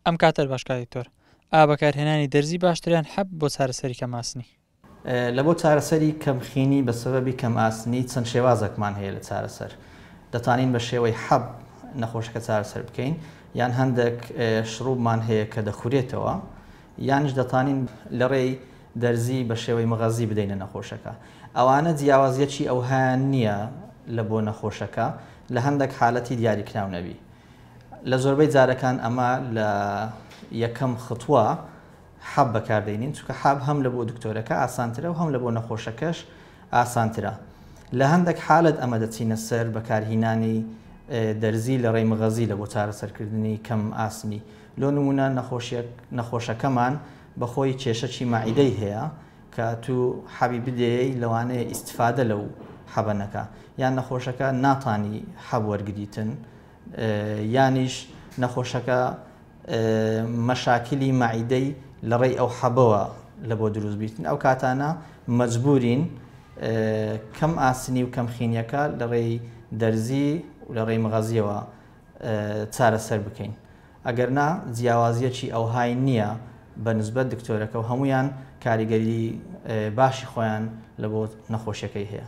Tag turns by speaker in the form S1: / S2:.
S1: ئەم کاتەر باش کاک دکتۆر. ئا بەکارهێنانی دەرزی باشتریان حەب بۆ چارەسەری کەم ئاسنی. لە بۆ
S2: چارەسەری کەم خینی بە سەبەبی کەم ئاسنی چەند شێوازەکمان هەیە لە چارەسەر دەتانین بە شێوەی حەب نەخۆشەکە چارەسەر بکەین یان هەندەک شڕوبمان هەیە کە دەخورێتەوە یانیش دەتانین لە ڕێی دەرزی بە شێوەی مەغەزی بدەینە نەخۆشەکە ئەوانە جیاوازیەکی ئەوهایان نیە لە بۆ نەخۆشەکە لە هەندەک حالەتی دیاریکراو نەبی لە زۆربەی جارەکان ئەمە لە یەکەم خطوە حەب بەکاردەینین چونکە حەب هەم لە بۆ دکتۆرەکە ئاسانترە و هەم لە بۆ نەخۆشەکەش ئاسانترە لە هەندێک حالت ئەمە دەچینە سەر بەکارهینانی دەرزی لە ڕێی مغەزی لە بۆ چارەسەرکردنی کەم ئاسنی لۆ نمونە نەخۆشەکەمان بەخۆی کێشەی مەعیدەی هەیە کە تو حەبی بدەیە لەوانەیە ئیسفادە لەو حەبەنەکە یان نەخۆشەکە ناتانی حەب وەرگتن یانیش نەخۆشەکە مەشاکیلی مەعیدەی لە ڕێی ئەو حەبەوە لە بۆ دروست بیتن ئەو کاتانە مەجبورین کەم ئاسنی و کەمخینیەکە لە ڕێی دەرزی و لە ڕێی مغەزیەوە چارەسەر بکەین ئەگەرنا جیاوازیەکی ئەوهای نییە بە نسبەت دکتۆرەکە و هەمویان کاریگەری باشی خۆیان لە بۆ نەخۆشیەکەی هەیە.